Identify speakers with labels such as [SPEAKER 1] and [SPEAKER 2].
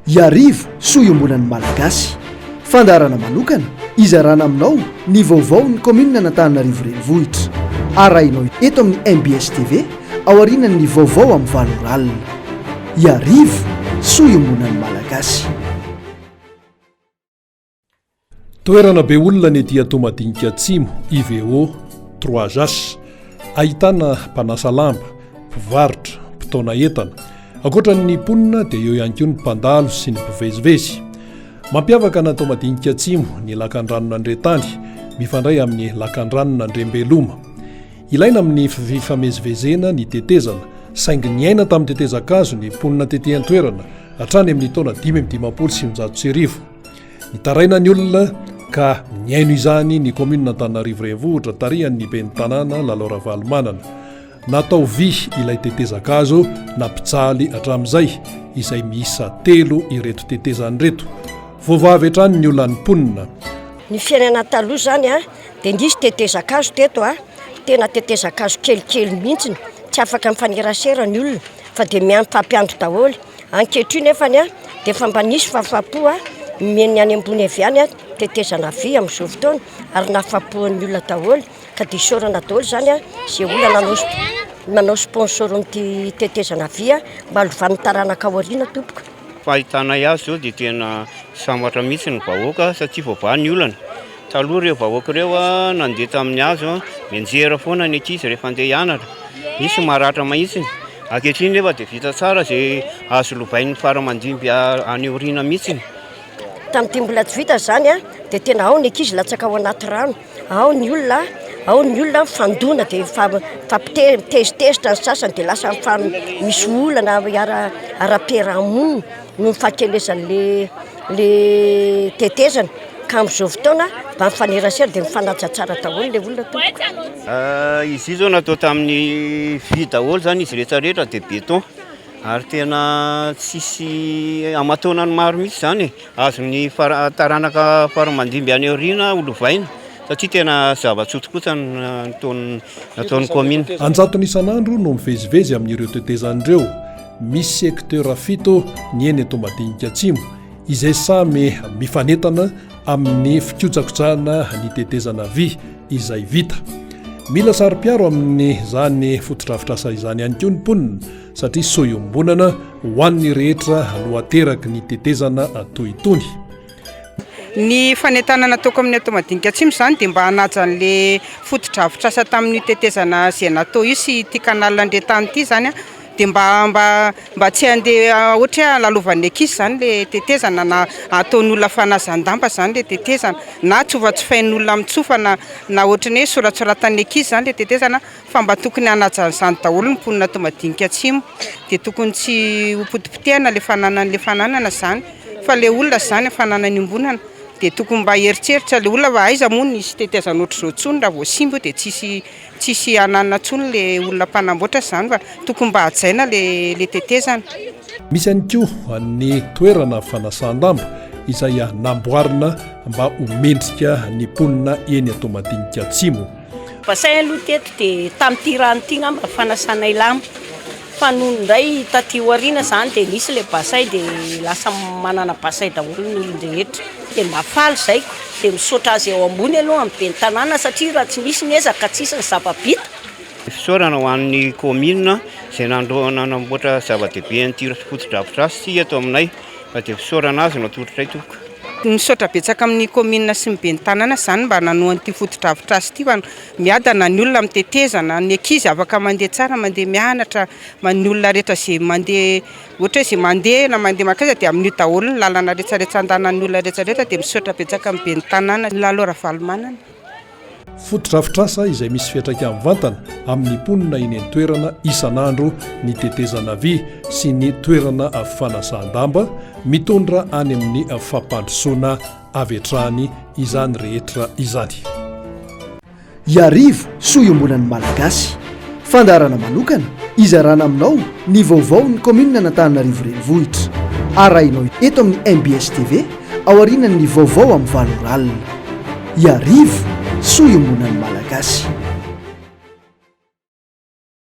[SPEAKER 1] Iarivo soa iombonan'ny Malagasy. Fandaharana manokana izarana aminao ny vaovaon'ny kaominin'Anantananarivo Renivohitra. Arahinao eto amin'ny mbs TV aorianan'ny vaovao amin'ny valo ora alina. Iarivo soa iombonan'ny Malagasy.
[SPEAKER 2] Toerana be olona ny ety Toamadinika Atsimo, IVO, Trois As. Ahitana mpanasa lamba, mpivarotra, mpitaona entana. Ankoatra ny mponina dia eo ihany koa ny mpandalo sy ny mpivezivezy. Mampiavaka an'i Toamadinika Atsimo ny lakandranon'Andriantany, mifandray amin'ny lakandranon'Andriambeloma. Ilaina amin'ny fifamezivezena ny tetezana, saingy niaina tamin'ny tetezan-kazo ny mponina tety an-toerana hatrany amin'ny taona dimy amby dimampolo sy sivinjato sy arivo. Mitaraina ny olona ka nihaino izany ny kaominina Antananarivo Renivohitra tarihan'ny ben'ny tanàna Lalao Ravalomanana. Natao vy ilay tetezakazo nampijaly hatramin'izay izay miisa telo ireto tetezany ireto. Voavavy hatrany ny olan'ny mponina. Ny fiainana
[SPEAKER 3] taloha izany a, dia nisy tetezakazo teto a, tena tetezakazo kelikely mihitsy, tsy afaka mifanerasera ny olona fa dia miampy fampiandry daholo. Ankehitriny efa ny dia efa mba nisy fahafapo nomen'ny any ambony avy any tetezana vy amin'izao fotoana ary nahafapoan'ny olona daholo ka dia isaorana daholo izany izay olona nanao nanao sponsor an'ity tetezana vy mba halovan'ny taranaka ao aoriana tompoko. Fahitanay
[SPEAKER 4] azy izao dia tena sambatra mihitsy ny vahoaka satria voavaha ny olana. Taloha ireo vahoaka ireo nandeha tamin'ny hazo, mianjera foana ny ankizy rehefa handeha hianatra. Misy maratra mahitsiny. Ankehitriny nefa dia vita tsara izay azo lovain'ny faramandimby any aoriana mihitsiny. Tamin'ity
[SPEAKER 3] mbola tsy vita izany dia tena ao ny ankizy latsaka ao anaty rano, ao ny olona ao ny olona mifandona dia mifampite- mitezitezitra ny sasany dia lasa mifam- misy olana ara-piarahamonina noho ny fahakelezan'ilay le tetezana ka amin'izao fotoana mba mifanerasera dia mifanaja tsara daholo le olona tompoko eh, izy io zao natao
[SPEAKER 4] tamin'ny vy daholo zany izy rehetra rehetra dia béton ary tena tsisy amataonany maro mihitsy zany e. azon'ny taranaka faramandimby any aoriana holovaina satria tena zava-tsotokosa nataon'ny nataon'ny commune anjatony isan'andro
[SPEAKER 2] no mivezivezy amin'ireo tetezana ireo Misy secteur fito ny eny Toamadinika Atsimo izay samy mifanentana amin'ny fikojakojana ny tetezana vy izay vita. Mila saro-piaro amin'izany fotodrafitrasa izany ihany koa ny mponina satria soa iombonana ho an'ny rehetra no ateraky ny tetezana toy itony.
[SPEAKER 5] Ny fanentanana nataoko amin'ny Atao Madinika Atsimo izany dia mba hanaja an'ilay fotodrafitrasa tamin'io tetezana Zenato io sy ity canal Andriantany ity izany an, dia mba mba mba tsy handeha ohatra hoe halalovan'ny ankizy izany ilay tetezana na hataon'olona fanazan-damba izany ilay tetezana na tsofatsofain'olona amin'ny tsofa na na ohatra ny hoe soratsoratan'ny ankizy izany ilay tetezana. fa mba tokony hanaja an'izany daholo ny mponina ato madinika atsimo dia tokony tsy ho potipotehana le fananan'le fananana izany fa le olona izany ny fananany ombonana dia tokony mba heritreritra le olona fa aiza moa nisy tetezana ohatr'izao intsony raha vao simba io dia tsisy tsisy hananana intsony le olona mpanamboatra izany fa tokony mba hajaina le le tetezana Misy ihany
[SPEAKER 2] koa ny toerana fanasan-damba izay namboarina mba ho mendrika ny mponina eny Toamadinika Atsimo. Bassin aloha
[SPEAKER 6] teto dia tamin'ity rano ity ngamba fanasanay lamba fa nony indray taty aoriana izany dia nisy ilay bassin dia lasa manana bassin daholo ny olon-drehetra dia mba faly izay dia misaotra azy eo ambony aloha amin'ny ben'ny tanàna satria raha tsy misy ny ezaka tsy hisy ny zava-bita. Fisaorana
[SPEAKER 4] ho an'ny kaominina izay nandroahana nanamboatra zava-dehibe an'ity fotodrafitrasa ity eto aminay. Fa dia fisaorana azy no atolotray tompoko. Misaotra betsaka
[SPEAKER 5] amin'ny kaominina sy ny ben'ny tanàna izany mba nanohana ity fotodrafitrasa ity fa miadana ny olona amin'ny tetezana, ny ankizy afaka mandeha tsara mandeha mianatra, ny olona rehetra izay mandeha ohatra hoe izay mandeha na mandeha mankaiza dia amin'io daholo ny lalana rehetra rehetra andehanan'ny olona rehetra rehetra dia misaotra betsaka amin'ny ben'ny tanàna Lalo Ravalomanana.
[SPEAKER 2] Fotodrafitrasa izay misy fiantraikany mivantana amin'ny mponina eny an-toerana isan'andro ny tetezana vy sy ny toerana fanasan-damba mitondra any amin'ny fampandrosoana avy hatrany izany rehetra izany.
[SPEAKER 1] Iarivo soa iombonan'ny Malagasy. Fandaharana manokana hizarana aminao ny vaovaon'ny Kaominina an'Antananarivo Renivohitra. Arahinao eto amin'ny mbs TV. aorianan'ny vaovao amin'ny valo ora alina. Iarivo, soa iombonan'ny Malagasy.